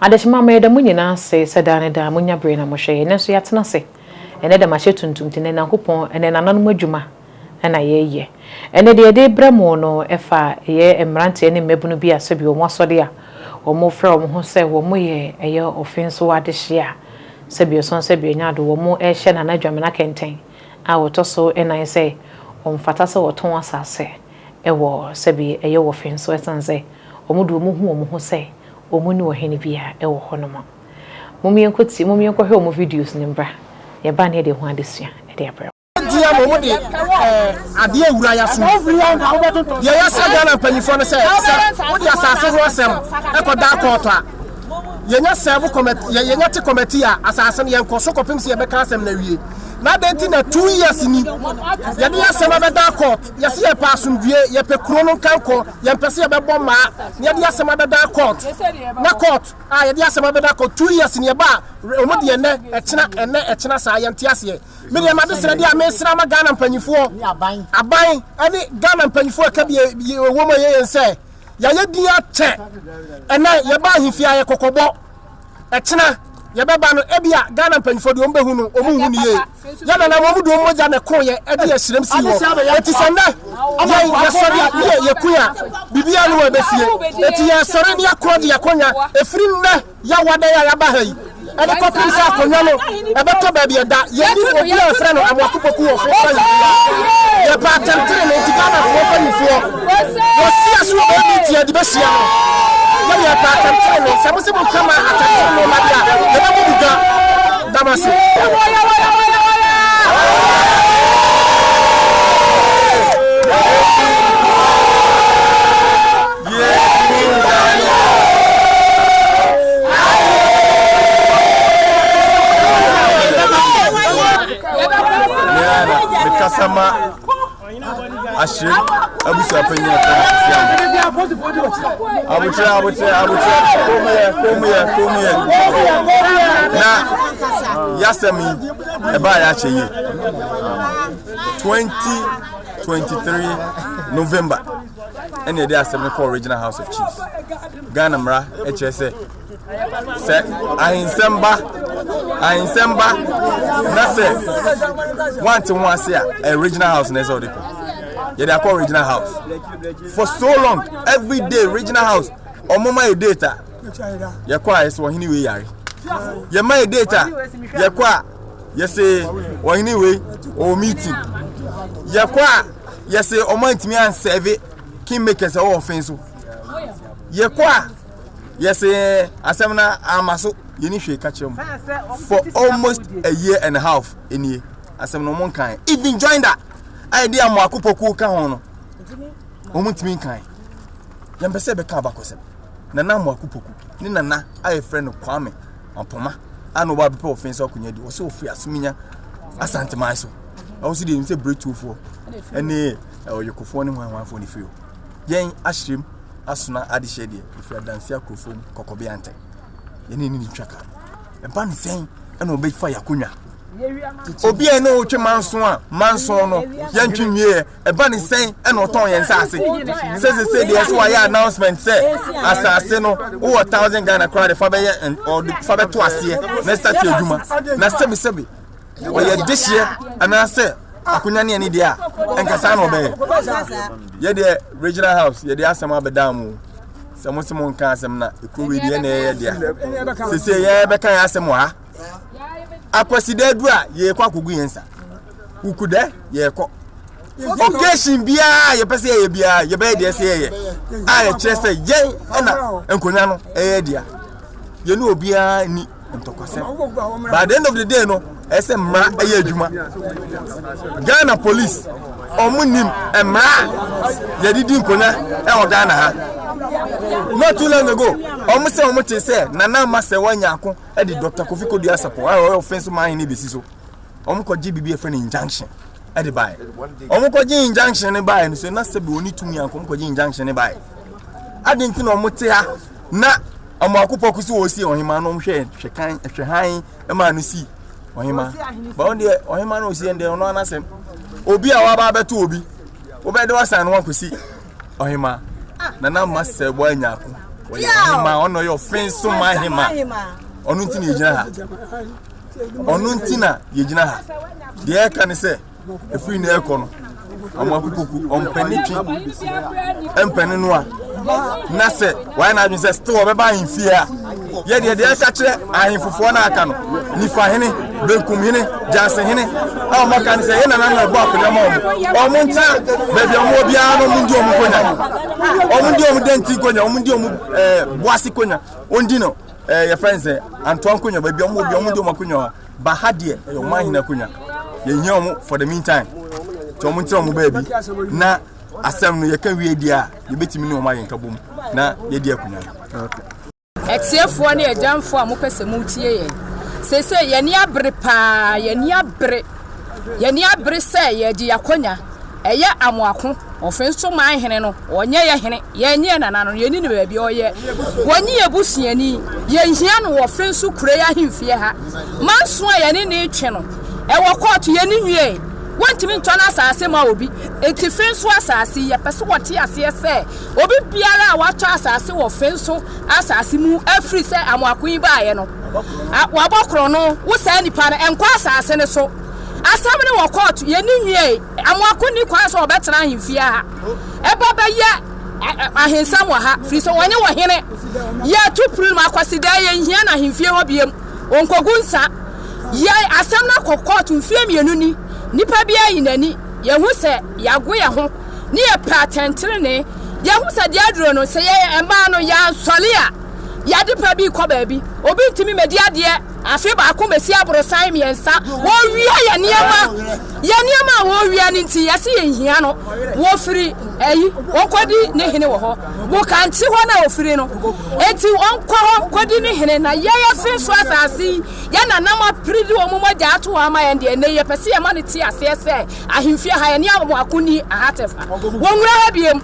Adehyema, meda mo nyinaa ase sɛ daa ne daa monya bere na mohwɛ yɛn. Ɛnnɛ nso yɛatena ase. Ɛnnɛ dɛm ahyɛ tuntum te nnɛ Nyankopɔn, ɛnɛ nananom adwuma na yɛreyɛ. Ɛnnɛ deɛ yɛde rebrɛ mo no ɛfa ɛyɛ mmeranteɛ ne mmabunu bi a sɛbi wɔn asɔde a wɔrefrɛ wɔn ho sɛ wɔyɛ ɛyɛ ɔfenso adehyeɛ a sɛbi ɔsɔn sɛbi ɔnya ado wɔn rehyɛ Nana Dwamena kɛntɛn a ɔtɔ so nnan sɛ ɔmfata sɛ ɔtɔn asase wɔ sɛbi ɛyɛ wɔ fen so ɛsiane sɛ wɔn deɛ wɔhu wɔn ho sɛ wɔn ne ɔhene bi a ɛwɔ hɔ nom. Mom yɛnkɔ tie mom yɛnkɔ hwɛ wɔn videos no mbra yɛba ne yɛde ɛho adesua de abrɛ mo. Deɛ mom de adeɛ awura yɛ so. Deɛ yɛsrɛ Ghana mpanyinfoɔ no sɛ sɛ wode asase ho asɛm ɛkɔ da kɔɔto a yɛnya sɛɛvo kɔmɛt yɛnya te kɔmɛti a asase no yɛnkɔ so kɔpem sɛ yɛbɛka asɛm no awie. Na adɛn nti na two years ni yɛde yɛ asɛm abɛda kɔɔt. Yɛse yɛpɛ asomdwie, yɛpɛ kuro no nkankɔ, yɛmpɛ sɛ yɛbɛbɔ mmaa na yɛde asɛm abɛda court, na court a yɛde asɛm abɛda court two years ni ɛba a wɔn deɛ ɛnɛ ɛkyena ɛnɛ ɛkyena saa yɛnte aseɛ. Me deɛ m'adesrɛ deɛ a mesrɛ ama Ghana mpanyifoɔ, aban ɛne Ghana mpanyifoɔ ɛka bi ɛwɔ mu ɛyɛ yɛn sɛ yɛayɛ din akyɛ, ɛnɛ yɛba ahemfie ayɛ kɔkɔbɔ, ɛkyena yɛbɛba no ɛbi a Ghana mpanyifoɔ deɛ wɔn bɛhu no wɔn nhu no yie. Yɛn nananom de wɔn mogya na ɛkoeɛ de ɛhyerɛm sii hɔ. Enti sɛ nnɛ yɛn yɛsɔre a, ne yɛ yɛkui a, biribiara ne hɔ a ɛbɛsie. Enti yɛresɔre na yɛakorɔ de yɛn akonnwa ɛfiri nnɛ yɛawa dɛn a yɛaba ha yi de kɔpem sɛ akonnwa no ɛbɛtɔ baabi ɛda. Yɛnnim obi a yɛfrɛ no Amoako Poku wɔ Fo Kwan biara. Yɛpɛ atɛntenenee, enti Ghanafoɔ mpanimfoɔ, Wɔasia so wɔ baabi nti yɛde bɛsia no. Yɛde yɛpɛ atɛntenenee. Sɛ mose moka ma atɛntenenee ba de a, yɛbɛbɔ mo dwa. Da mo ase. ahyire abusua panyin ɛfɛ na sisi ama abotire abotire abotire kɔmuyɛ kɔmuyɛ kɔmuyɛ na yasɛm yi ɛbaa yɛ akyɛ yie twenty twenty three november ɛna yɛde asɛm no kɔ original house of chiefs ghana mmara ɛkyerɛ sɛ. sɛ ahensɛm ba ahensɛm ba na sɛ wante ho ase a eh, regional house na ɛsɛ ɔde kɔ yɛde akɔ regional house for so long every day regional house ɔmoma yɛ data yɛkɔ a yɛsɛ ɔhene wei yare yɛma yɛ data yɛkɔ a yɛsɛ ɔhene wei ɔwɔ meeting yɛkɔ a yɛsɛ ɔma ntumi ansɛve kingmakers ɛwɔ ɔfen so yɛkɔ a yɛsɛ asɛm no ama so yɛni hwee ka kyerɛ mu for almost a year and a half nie asɛm no ɔmo nkan even join da a yɛde amo akopɔkuo ka ho no ɔmo ntumi nkan yɛmpɛ sɛ bɛka abakɔsɛm nana amo akopɔku ne nana a yɛfrɛ no kwame ɔpoma a na ɔba abɛpɛ ɔfen sɛ ɔkonya di ɔsɛ ɔfiri asominya asanteman so ɛwɔ so deɛ nim sɛ berɛtuofoɔ ɛne ɔyɛkofoɔ ne hwanhwanfoɔ ne firi hɔ yɛn ahyerɛm asona adehyeɛ deɛ ɛfiri adanse akorofo mu kɔkɔbea ntɛ yɛne ne ntwa ka ɛba ne sɛn ɛna ɔbɛfa yɛ akonnwa obi a ɛne wotwe manso a manso no yɛntwe nwieɛ ɛba ne sɛn ɛna ɔtɔn yɛn saase sɛsesɛ deɛ ɛso wayɛ announcement sɛ asase no wowɔ thousand ghana koraa de fa bɛyɛ ɔde fa bɛto aseɛ na ɛsate adwuma na sɛbisɛbi ɔyɛ dehyeɛ anaasɛ akonya ne ani deɛ a ɛnka saa na ɔbɛyɛ yɛdeɛ regional house yɛde asɛm abɛdaa mu sɛ mo se mo nka asɛm na ɛkuro wei deɛ na ɛyɛ dea sese yɛbɛka yɛ asɛm wɔ ha akwasida du a yɛkɔ akɔgu yɛn nsa wukudɛ yɛkɔ occasion biara yɛpɛ sɛ yɛyɛ biara yɛbɛyɛ deɛ sɛ yɛyɛ a yɛkyerɛ sɛ yɛn ɛna nkonnwa no ɛyɛ dea yɛne obiara ni ntɔkwasɛm by the end of the day no ɛsɛ mmara ɛyɛ adwuma ghana police ɔmo nim mmara yɛde di nkonya ɛwɔ ghana ha not too long ago ɔmo sɛ ɔmo te sɛ nana ama sɛ wɔnyɛ ako ɛde dr kofi kodu asafo a ɔyɛ ɔfɛn so maa yɛn ne besi so. wɔn kɔ gye biribi efiri no injunction ɛde bae wɔn kɔ gye injunction ne bae no so na sɛbi wɔn tumi anko wɔn kɔ gye injunction ne bae adi nti na wɔn te ha na wɔn akopɔ kusi wɔn si ɔhema no wɔn hwɛ hwɛ kan hwɛ han ɛma no si ɔhema bɔn deɛ ɔhema no osi ɛdeɛ ɔno anasɛm obi a waba abɛto obi wobɛde wasan no wakosi ɔhema nana ma sɛ wɔanya ko ɔyɛ ɔhema ɔno ɔyɛ ɔfɛn so ma hema ɔno nti na egyina ha. Ɔno nti na yɛgyina ha. Deɛ ɛka ne sɛ, ɛfiri na ɛrekɔ no, wɔn akukuku ɔmpɛne twi mpɛne noa na sɛ wɔayɛ n'adwene sɛ still ɔbɛba ahemfie a yɛdeɛ deɛ ɛka kyerɛ ahemfofoɔ no aka no nifa hene benkum hene gyanse hene a wɔn aka no sɛ yɛn nana no ɛbɔ akonnwa ma wɔn wɔn nkyɛn baabi a wɔn biara no wɔn ndi wɔn konya wɔn ndi wɔn dɛnti konya wɔn ndi wɔn ɛɛ boase konya wɔn di no Eh, your friends, eh, Antoine Kunya, baby, I'm with you, I'm with you, Makunya. But how dear, eh, your man in a Kunya. You hear him for the meantime. To him, tell him, baby. Now, I said, no, you can't read the You bet me no, my in Kabum. Now, you dear Kunya. Ɛtiefoɔ ne ɛgyanfoɔ a mopɛ sɛ motie yɛn sese yɛn ani abere paa yɛn ani abere yɛn ani abere sɛ yɛde yɛakonya Ɛyɛ amoako, ɔfe nso man hene no, ɔnyɛ yɛ hene, yɛnnye yɛ nana no, yɛnni no baabi a ɔyɛ, wɔnye yɛ busuani, yɛnhia no wɔ fe nso kurei ahemfie ha, ma nson a yɛne no retwe no, ɛwɔ kɔɔto, yɛnni nwiee, wɔntumi ntɔ n'asaase ma obi, enti fe nso asaase yi, yɛpɛ sɛ wɔte aseɛ sɛ, obi biara a watɔ asaase wɔ fe nso asaase mu afiri sɛ amoako yi baeɛ no, wɔabɔ korɔno, wo saa nipa no, nkɔ asaase no so. Asɛm no wɔ kɔɔto, yɛnni nwiei. Amoako nni kwan sɛ ɔbɛtena ahemfie ha. Ɛba bɛyɛ ahensɛm wɔ ha, firi sɛ wɔnye wɔ hene. Yɛretu pirim a, Kwasidaa, yɛnhia no ahemfie hɔ biom. Ɔnkogu nsa. Yɛn asɛm no akɔ kɔɔto mfeɛ mmienu ni. Nnipa biara ayi n'ani. Yɛahu sɛ yɛago yɛn ho, ne yɛpɛ atɛntenenee. Yɛahu sɛ deɛ aduro no, sɛ yɛn mmaa no yɛansɔre a, yɛn adepa bi rekɔ baabi. Obi ntumi mmɛdi adeɛ. Afe baako bɛsi aborosan mmiɛnsa. Wɔwia yɛ nneɛma. Yɛ nneɛma a wɔwia no nti, yɛse yɛnhia no. Wɔfiri ayi, wɔnkɔdi ne hene wɔ hɔ. Boka nte hɔ na ɔfiri no. Enti wɔnkɔ hɔ nkɔdi ne hene. Na yɛn afe nso asase yi, yɛn nananom apere de wɔn mogya ato hɔ ama yɛn deɛ, ɛnnɛ yi, yɛpɛ sɛ yɛma no te aseɛ sɛ, Ahemfie aha yɛne amoako ni aha tefa wɔnwura ha biem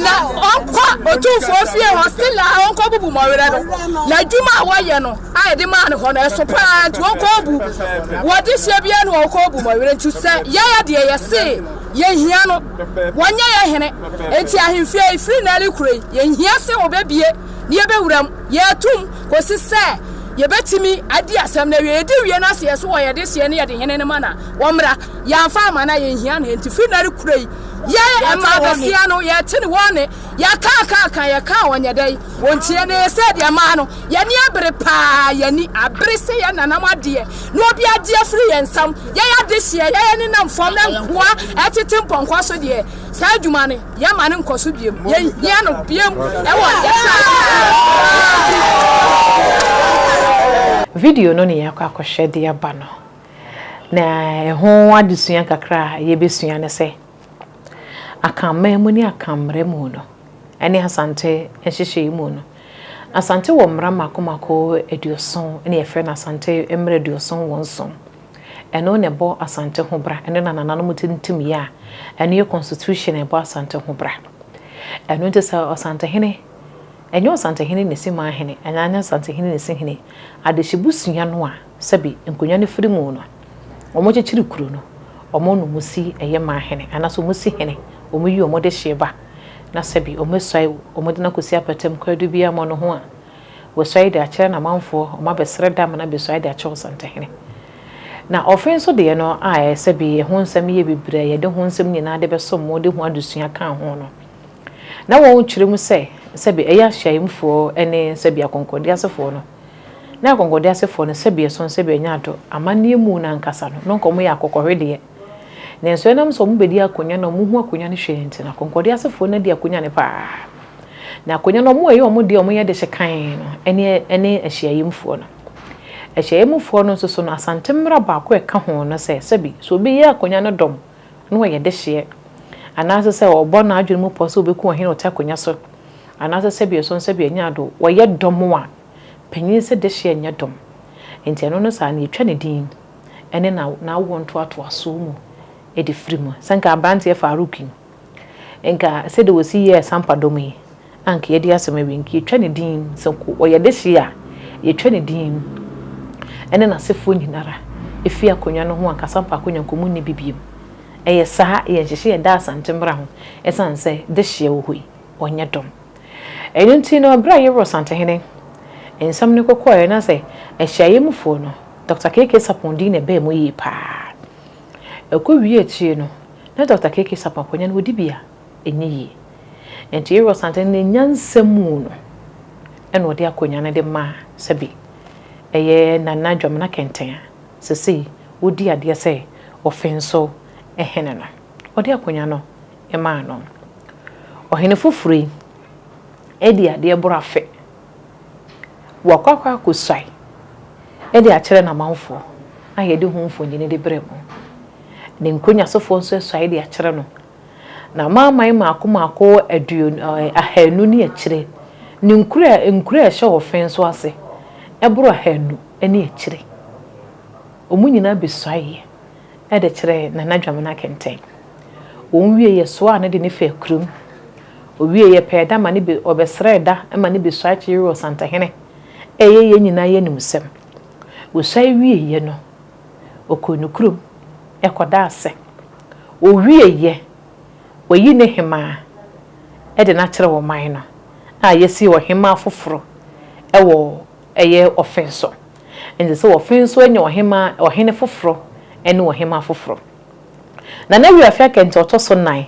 na ɔnkɔ otumfoɔ fie hɔ sila a ɔnkɔ bubu mɔwerɛ no na adwuma a wɔyɛ no a yɛde maa no hɔ no ɛso paa nti ɔnkɔ bu wɔde hyɛ bia no ɔnkɔ bu mɔwerɛ nti sɛ yɛyɛ deɛ yɛse yɛhia no wɔnyɛ yɛ hene nti ahemfie yi firi na ne kuro yi yɛhia se wɔbɛbie ne yɛbɛwura mu yɛatum kɔsi sɛ yɛbɛtumi adi asɛm no awie yɛde wie no aseɛ so wɔ yɛde hyeɛ ne yɛde hene no ma na Wɔmmra, yɛamfa amma no a, yɛnhia no. Enti firi nnɛ rekorɛ yi, yɛn mmaa basia no, yɛte ne wɔn nne. Yɛka a ka a ka, yɛka a wɔnyɛ dɛn? Wɔntie. Na ɛyɛ sɛ deɛ mmaa no, yɛn ani abere paa, yɛn ani abere sɛ yɛn nananom adeɛ, na obi agye afiri yɛn nsam. Yɛn adehyeɛ, yɛn ani nam fam, na nkoa retete mpɔnkɔ so deɛ, saa adwuma no, yɛmma no nkɔ so bio. Yɛnhia no bio wɔ yɛn asetra mu. Video no na yɛakɔ akɔhwɛ de aba no. Na ɛho adesua kakra a yɛbɛsua ne sɛ, Akanman mu ne Akanmmerɛ mu no, ɛne Asante nhyehyɛeɛ mu no, Asante wɔ mmara mmaako mmaako aduoson, ɛna yɛfrɛ no Asante mmara aduoson wɔ nson. Ɛno na ɛbɔ Asante ho bra, ɛno na nananom tintimyɛ a ɛno yɛ constitution a ɛbɔ Asante ho bra. Ɛno nti sɛ Ɔsantehene, ɛnyɛ Ɔsantehene na ɛsi Manhene, ɛnyɛ Ɔsantehene na ɛsi Hene, adehyebusua no a, Sɛbi, nkonnwa no firi mu no, wɔkyekyere kuro no, wɔn na wɔsi ɛyɛ maa hene, anaasɛ wɔsi hene, wɔyi wɔn dehyeɛ ba, na sɛbi, wɔasuae wɔde no akɔsi apatam kwaadu biara mmɔno ho a, wɔasuae de akyerɛ n'amanfoɔ, wɔabɛsrɛ dam na bɛsuae de akyerɛ ɔsantehene. Na ɔfe nso deɛ no a sɛbi, ɛho nsɛm yɛ bebree a yɛde ho nsɛm nyinaa de bɛsom mo de ho adesua ka ho no, na wɔtwerɛ mu sɛ, sɛbi, ɛyɛ ahyiaeɛmfoɔ ne sɛbi akɔnkɔndiasefoɔ no, Na akɔnkɔdeɛ asefoɔ no, sɛbea ɛsono sɛbea nya adɔ, amanneɛ mu no ankasa no, na anka wɔyɛ akɔkɔhwedeɛ. Nanso ɛnam sɛ wɔbɛdi akonya na wɔhu akonya no hwee nti no, akɔnkɔdeɛ asefoɔ no adi akonya no paa. Na akonya no, wɔyɛ wɔn deɛ a wɔyɛ de hyɛ kann no, ɛne ahyiaeɛmfoɔ no. Ahyiaeɛmfoɔ no nso so no, Asante mmara baako a ɛka ho ne sɛ, sɛbi, sɛ obi yɛ akonya no dɔm na ɔyɛ dehyeɛ, anaase sɛ ɔbɔ n'adwene mu pɔ sɛ ɔbɛku ɔhene a ɔte akonya so, anaase sɛbea ɛsono sɛbea nya adɔ, wɔyɛ dɔm a, Panyin se dehyeɛ nyɛ dɔm. Enti ɛno no saa no yɛtwa ne din ne n'awoɔ ntoatoasoɔ mu de firi mu. Sɛ nka aberanteɛ Farouk yi, nka sɛdeɛ ɔsi yɛɛ Sampa dɔm yi, anka yɛadi asɛm awie. Nka yɛtwa ne din, sɛ nka ɔyɛ dehyeɛ a, yɛtwa ne din ne n'asefoɔ nyina ara firi akonnwa no ho anka Sampa akonnwa nka wɔnni bi biom. Ɛyɛ saa, ɛyɛ nhyehyɛɛ a ɛda Asante mmara ho, ɛsiane sɛ dehyeɛ wɔ hɔ yi. ɔnyɛ dom. Ɛno nti no, berɛ a Yero Asantehene nsɛm no kɔkɔɔeɛ no, na sɛ ahyiaeɛ mufoɔ no, Dɔkta KK. Sarpong din na ɛbaa mu yie pa ara. Ɛkɔwiee akyire no, na Dɔkta KK. Sarpong akonnwa no, ɔdi bi a, ɛnyɛ yie. Enti Yero Asantehene ne nyansa mu no, ɛna ɔde akonnwa no de maa sɛbe ɛyɛ Nana Dwamena Kɛntɛn a seesei ɔdi adeɛ sɛ Ɔfenso Hene no. Ɔde akonnwa no maa no. Ɔhene foforɔ yi adi adeɛ boro afe. Wakɔ akɔ akɔsuae de akyerɛ n'amanfoɔ a yɛde ho mfonini de brɛ mo. Ne nkonnyasofoɔ nso asuae de akyerɛ no. N'amanaman mmaako mmaako aduon ɛɛ ahanu ne akyire, ne nkuro a nkuro a ɛhyɛ wɔn fɛn so ase boro ahanu ne akyire. Wɔn nyinaa bɛsuaeɛ. de kyerɛɛ Nana Dwamena kɛntɛn. Wɔn wiei yɛsoaa no de no faa kurom. Owiei yɛpɛɛ da ma no bi, ɔbɛsrɛɛ da ma no bi suae kyeyee wɔ Santahene. Ɛyɛ yɛn nyinaa yɛn anim nsɛm. Osuae wieeɛ no, ɔkɔɔ ne kurom kɔdaa ase. Ɔwieeɛ, wɔayi no hemaa de no akyerɛ ɔman no a yɛasi ɔhemaa foforɔ wɔ ɛyɛ Ɔfɛn so. Ɛnsɛ sɛ wɔfe nso anya ɔhemmaa, ɔhene foforɔ ne ɔhemmaa foforɔ. Na na Yoab fi akɛntɛn a ɔtɔ so nnan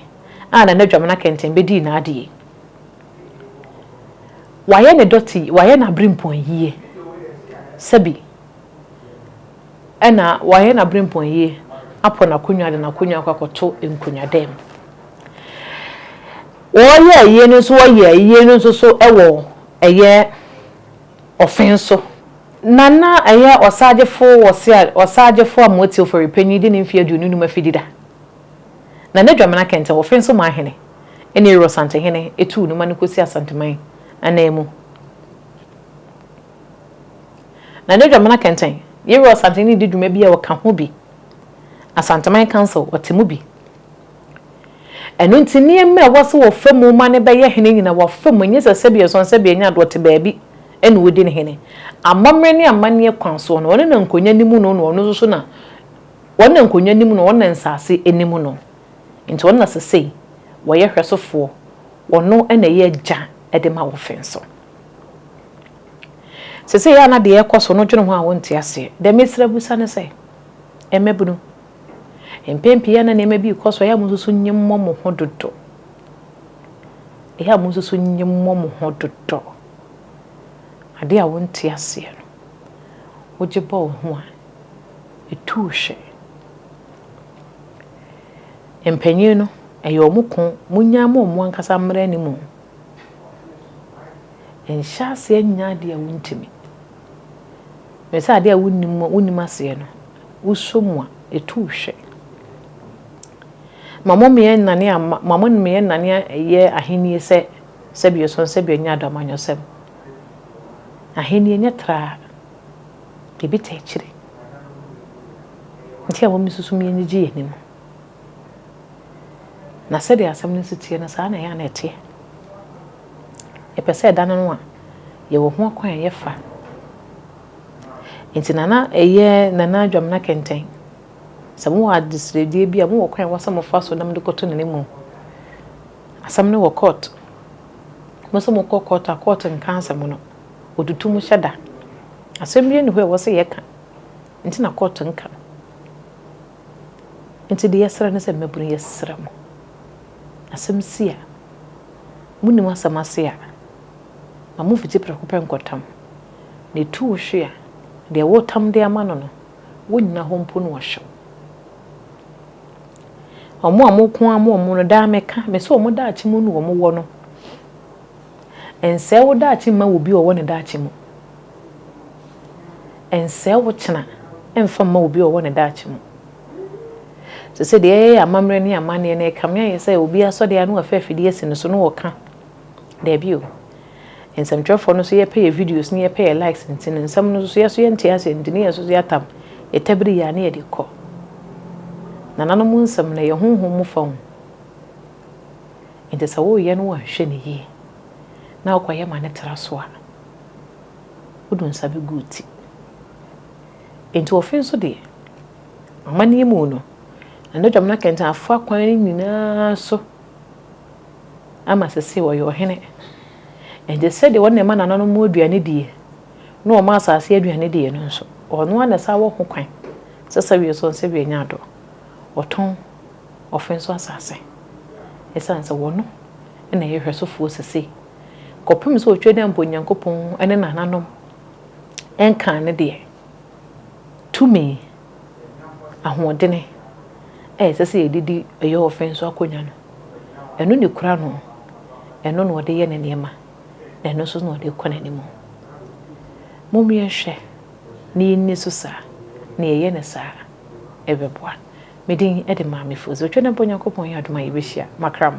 a na n'adwamena akɛntɛn bɛdii n'adeɛ yi. Wayɛ ne dɔte, wayɛ n'aberempɔn yie. Sɛbi ɛna wayɛ n'aberempɔn yie apɔ n'akonnwa de n'akonnwa akɔ akɔto nkonnwadam. Wɔyɛɛ yei no nso, wɔyɛɛ yei no nso so wɔ ɛyɛ Ɔfe nso, na na ɛyɛ ɔsaagyefo wɔ sea ɔsaagyefo Amoati Oforipanyin de ne mfe aduonu nnum afi Dida. Na n'adwamena kɛntɛn Ɔfe nso maa hene ne Ero Asantehene tuu no ma no kosi Asanteman ananmu. Na n'adwamena kɛntɛn Ero Asantehene di dwuma bi a ɔka ho bi Asanteman Council ɔte mu bi. Ɛno nti, nneɛma a ɛwɔ sɛ wɔfa mu ma no bɛyɛ hene nyinaa, wɔfa mu, ɛnyɛ sɛ sɛdeɛ ɛsɔn sɛdeɛ ɛnyɛ adeɛ, ɔte baabi na ɔdi no hene. Amammerɛ ne amanneɛ kwan soɔ no, ɔno na nkonnwa nim no na ɔno nso so na, ɔno na nkonnwa nim no, ɔno na nsase nim no, nti ɔno na sesei wɔyɛ hwɛsofoɔ, ɔno na ɛyɛ agya de ma wɔ fee so. Sesei a na deɛ ɛrekɔ so no dwene ho a wonte aseɛ, deɛ mesrɛ bisa ne sɛ, mmabunu, Mpɛn pii a na nneɛma bi rekɔ so a, ɛyɛ a munsusu nye mmɔ mo ho dodo. Ɛyɛ a munsusu nye mmɔ mo ho dodo. Ade a wonte aseɛ no, wogye bɔ wo ho a, ɛtu wo hwe. Mpanyin no, ɛyɛ wɔn ko, monnya mma wɔn ankasa mmra anim o. Nhyɛ aseɛ nyɛ adeɛ a wontumi. Ɛfiri sɛ adeɛ a wonnim, wonnim aseɛ no. wosɔ mu a, ɛtu wo hwɛ. Ma mo mmea nnane amma, ma mo mmea nnane ɛyɛ ahennie sɛ sɛbi ɛsɔn sɛbi ɛnyɛ ado amanyɔsɛm. Ahennie nyɛ traa, biribi ta akyire. Nti a wɔn nsusu mu yɛnyegye yɛn ani mu. Na sɛdeɛ asɛm no nso teɛ no, saa na ɛyɛ a na ɛteɛ. Yɛpɛ sɛ ɛda no no a, yɛwɔ ho akwan a yɛfa. Enti Nana ɛyɛ Nana Adwamena kɛntɛn. Sɛ mowɔ adesrɛdie bi a, mowɔ kwan a ɛwɔ sɛ mofa so na mode kɔto Nana mu. Asɛm no wɔ court. Mo sɛ mokɔ court a, court nka asɛm no. Wɔtutu mo hyɛ da. Asɛm biara nni hɔ a ɛwɔ sɛ yɛka. Nti na court nka. Nti deɛ yɛsrɛ ne sɛ mmabunu yɛsrɛ mo. Asɛm si a, monim asɛm ase a, ma momfiti prɛko pɛ nkɔtam. na etu wo hwe a, deɛ woretam de ama no no, wonnyina hɔ mpo na ɔhwe wo. Wɔn a wɔko ara ma wɔn no, daa meka, mese wɔn daakye mu na wɔwɔ no. Nsɛe wo daakye mma obi a ɔwɔ ne daakye mu. Nsɛe wo kyena mfa mma obi a ɔwɔ ne daakye mu. Sɛ sɛ deɛ ɛyɛ amammerɛ ne amanneɛ no ɛkame ayɛ sɛ obi asɔdeɛ ano afa afidie asi no so na ɔka. Daabi o. Nsɛmtwerɛfoɔ no so yɛpɛ yɛ videos ne yɛpɛ yɛ likes nti no nsɛm no nso yɛso yɛnte aseɛ nti ne yɛnso so yɛatam yɛtabiri yɛ a ne yɛde kɔ nananom nsɛm no ɛyɛ honhom mu fa hu nti sɛ woreyɛ no wanhwɛ no yie na wokɔyɛ ma no tra so a wodu nsa bɛgu wo ti nti ɔfe nso deɛ amanneɛ mu no ɛno dwam no akɛntɛn afoa kwan no nyinaa so ama sesei ɔyɛ ɔhene. Enti sɛdeɛ ɔno na ɛma nananom mu aduane die, na ɔma asase aduane die no nso, ɔno ara na ɛsan wɔ ho kwan sɛ sɛ wie so no sɛ wie nya adɔ, ɔtɔn ɔfe nso asase. Ɛsiane sɛ ɔno na ɛyɛ hwɛsofoɔ sesei, kɔpem sɛ ɔtwa dɛ mpo Onyankopɔn ne nananom nkaa ne deɛ tumi. ahoɔdene a ɛsɛ sɛ yɛde di ɔyɔhofɛn so akonnwa no, ɛno na ekura no, ɛno na ɔde yɛ ne nneɛma, na ɛno nso na ɔde kɔ n'anim. Mommea nhwɛ na yɛnni so saa, na yɛyɛ no saa ɛbɛboa. Me din de Maame Fosu. Otwa dɛn pa Onyankopɔn yɛ adom a yɛbɛhyia makrama.